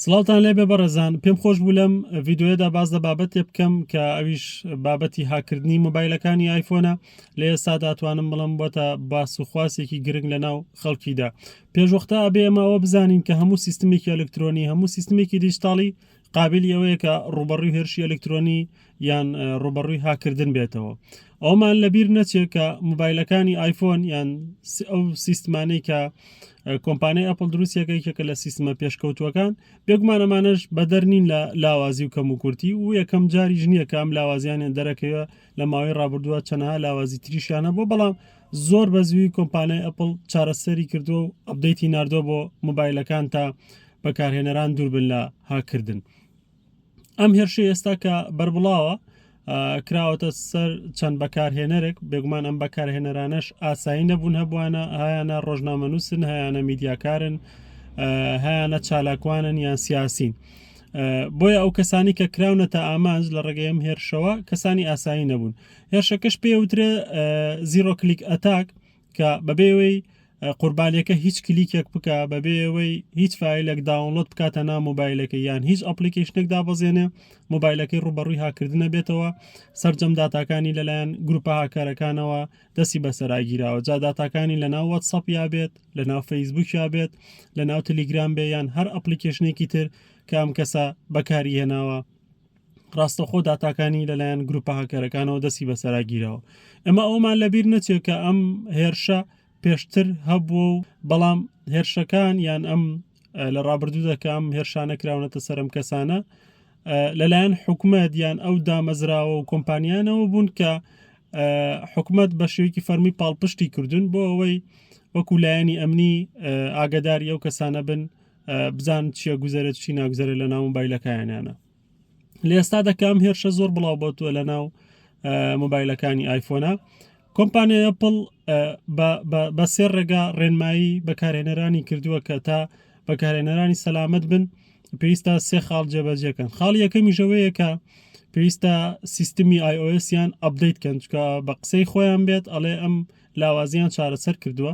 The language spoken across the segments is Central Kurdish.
سڵاوتان لێبێ بەڕێزان پێم خۆش بوو لەم ڤیددیوەدا باز لە بابەتێ بکەم کە ئەویش بابەتی هاکردنی مۆبایلەکانی ئایفۆنە لە ئێستا داتوانم بڵم بۆتە باس و خواسێکی گرنگ لە ناو خەڵکیدا پێشوەختە ئەبێ ئەمەوە بزانین کە هەموو سیستمێکی ئەلکترۆنی هەموو سیستمێکی دیجتاڵی قابلی ئەوەیە کە ڕوبەڕوی هێرشی ئەلکترۆنی یان ڕوبەڕوی هاکردن بێتەوە ئەومان لەبیر نەچێت کە موبایلەکانی ئایفۆن یان ئەو سیستمانەی کە کۆمپانیای ئەپل دروستیەکە یەکە لە سیستمە پێشکەوتوەکان بێگومان ئەمانش بەدەر نین لە لاوازی و کەم و کورتی و یەکەم جاری ژنیە کام لاوازیانیان دەرەکەوە لە ماوەی ڕابردووە چەنەها لاوازی تریشیانە بۆ بەڵام زۆر بە زووی کۆمپانیای ئەپل چارەسەری کردو و ئەبدەیتی نردوە بۆ موبایلەکان تا بەکارهێنەران دووربن لە هاکردن. ئەم هێرشەی ئێستا کە بەربڵاوە کراوەتە سەر چەند بەکارهێنەرێک بێگومان ئەم بەکارهێنەرانەش ئاسایی نەبوون هەبووانە هایانە ڕۆژنامەنووسن هەیانە میدیاکارن هەیانە چالاکوانن یان سیاسین. بۆیە ئەو کەسانی کە کراونەتە ئامانج لە ڕێگەیم هێرشەوە کەسانی ئاسایی نەبوون هێرشەکەش پێوترێ زیرۆ کلیک ئەتاک کە بەبێ ئەوەی قوربانیەکە هیچ کلیکێک بکە بەبێ ئەوەی هیچ فیلێک داونلۆد بکاتە نا مۆبایلەکە یان هیچ ئەپلیکیشنێک دابەزێنێ مۆبایلەکەی ڕوبەڕووی هاکردنە بێتەوە سرجەم داتاکانی لەلایەن گروپە هاکارەکانەوە دەسی بەسەراگیراوە جا داتاکانی لە ناو وەتسەپ یا بێت لە ناو فەیسبوک یا بێت لە ناو تلیگرام بێ یان هەر ئەپلیکیشنێکی تر کام کەسە بەکاری هێناوە ڕاستەوخۆ داتاکانی لەلایەن گروپە هاکەرەکانەوە دەستی بەسەراگیرەوە ئەمە ئەومان لەبیر نەچێت کە ئەم هێرشە پێشتر هەبووە و بەڵام هێرشەکان یان ئەم لە ڕابردوو دەکەم هێرشانە کراونەتە سەرم کەسانە لەلایەن حکومەت یان ئەو دامەزراوە و کۆمپانیانەوە بوون کە حکومت بە شێوکی فەرمی پاڵپشتی کردوون بۆ ئەوەی وەکو لایەنی ئەمنی ئاگداری ئەو کەسانە بن بزان چیە گوزەرێت چی ناگوزەرە لە ناو مۆبایلەکانیانە لە ئێستا دەکەم هێرشە زۆر بڵاو بۆتوە لە ناو مۆبایلەکانی ئایفۆنا کۆمپانیای ئەپل بە سێ ڕێگا ڕێنمایی بەکارێنەرانی کردووە کە تا بەکارێنەرانی سەلامت بن پێویستە سێ خاڵ جێبەجێکەن خاڵی یەکەمی ژەوەیەکە پێویستە سیستمی آیOSیان ئەبدەیت کەنجکە بە قسەی خۆیان بێت ئەڵێ ئەم لاوازیان چارەسەر کردووە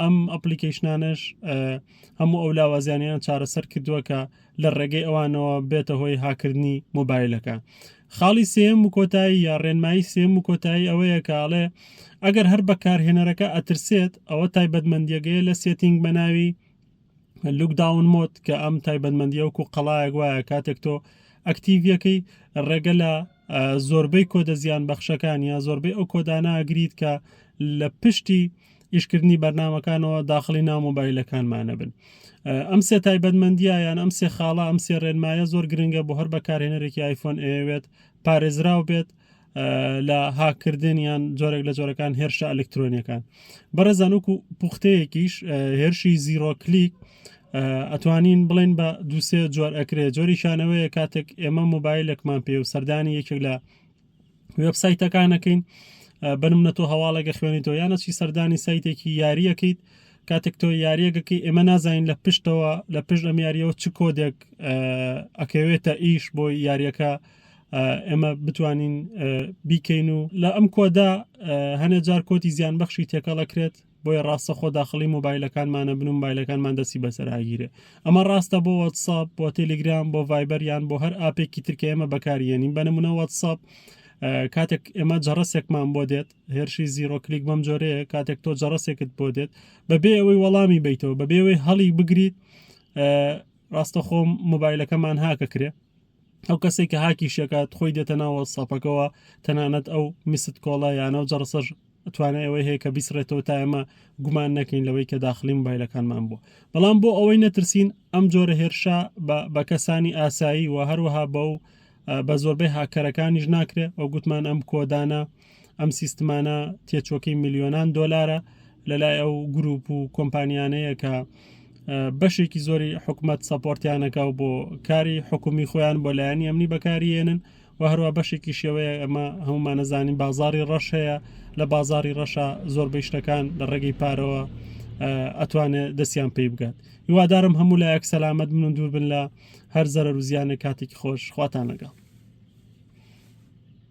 ئەم ئەپلیکەیشنانەش هەموو ئەو لاوازیانیان چارەسەر کردووە کە لە ڕێگەی ئەوانەوە بێتە هۆی هاکردنی مۆبایلەکە خاڵی سێم و کۆتایی یا ڕێنمایی سێم و کۆتایی ئەوەیە کاڵێ ئەگەر هەر بەکارهێنەرەکە ئەترسێت ئەوە تایبەتمەندیەگەیە لە سێتینگ بەناوی لوکداون مۆد کە ئەم تایبەتمەندیە وەکو قەڵایەک وایە کاتێک تۆ ئەکتیڤەکەی ڕێگە لە زۆربەی کۆدە زیان بەخشەکان یا زۆربەی ئەو کۆداناگریت کە لە پشتی ئیشکردنی بەرنمەکانەوە داخلی ناو مۆبایلەکانمانە بن ئەم سێ تایبەتمەندیە یان ئەم سێ خاڵە ئەم سێ ڕێنمایە زۆر گرنگە بۆ هەر بەکارهێنەرێکی آیفۆن ئەوێت پارێزراو بێت لە هاکردن یان جۆرێک لە جۆرەکان هێرشە ئەلکترۆنیەکان بەڕێزان وکو پوختەیەکیش هێرشی زیرۆکلیک ئەتوانین بڵێن بە دووسێ جۆر ئەکرێت جۆری شانەوەیە کاتێک ئێمە موبایلێکمان پێ و سەردانی یەکێک لە وێبسایتەکانەکەین بنم نە تۆ هەواڵێکە خوێنیتەوە یانەچی سەردانی سایتێکی یاریەکەیت کاتێک تۆ یاریەکەکەی ئێمە نازانین لە پشتەوە لە پشت ئەم یاریەوە چ کۆدێک ئەکەوێتە ئیش بۆی یاریەکە ئێمە بتوانین بیکەین و لە ئەم کۆدا هەنێ جار کۆتی زیان بەخشی تێکەڵەکرێت بۆیە ڕاستە خۆ داخلی مۆبایلەکانمانە بن و مایلەکانمان دەسی بەسەراگیرێ ئەمە ڕاستە بۆ وەتساب بۆ تەلیگرام بۆ ڤایبەریان بۆ هەر ئاپێکی ترکە ئێمە بەکاریێنین بەنمونە وەتساب کاتێک ئێمە جەڕسێکمان بۆ دێت هێرشی زیرۆکلیک بەم جۆرەیە کاتێک تۆ جەڕسێکت بۆ دێت بەبێ ئەوەی وەڵامی بیتەوە بەبێەوەی هەڵی بگریت ڕاستەخۆم مۆبایلەکەمان هاکە کرێ ئەو کەسەی کە هاکیشی ئەکات خۆی دێتە ناو وەتسئەپەکەوە تەنانەت ئەو میست کۆڵە یان ئەو جەڕسەش توانای ئەوەی هەیە کە بیسڕێتەوە تا ئێمە گومان نەکەین لەوەی کە داخڵی مۆبایلەکانمان بووە بەڵام بۆ ئەوەی نەترسین ئەم جۆرە هێرشە بە بە کەسانی ئاسایی و هەروەها بە و بە زۆربەی هاککەرەکانیش ناکرێت ئەو گوتمان ئەم کۆدانە ئەم سیستمانە تێچۆکەی ملیۆنان دۆلارە لەلای ئەو گروپ و کۆمپانیانەیە کە بەشێکی زۆری حکومت سەپۆرتیانەکە و بۆ کاری حکومی خۆیان بۆ لایەنی ئەمنی بەکاریێنن و هەروە بەشێکی شێوەیە ئەمە هەمومانەزانانی بازاری ڕەش هەیە لە بازاری ڕەشە زۆربەی شتەکان لە ڕێگەی پارەوە ئەتوانێت دەستیان پێی بگات هیوادارم هەموو لایەک سەلامت من و دوور بن لە هەر زەرەر و زیانە کاتێکی خۆش خواتان لەگەڵ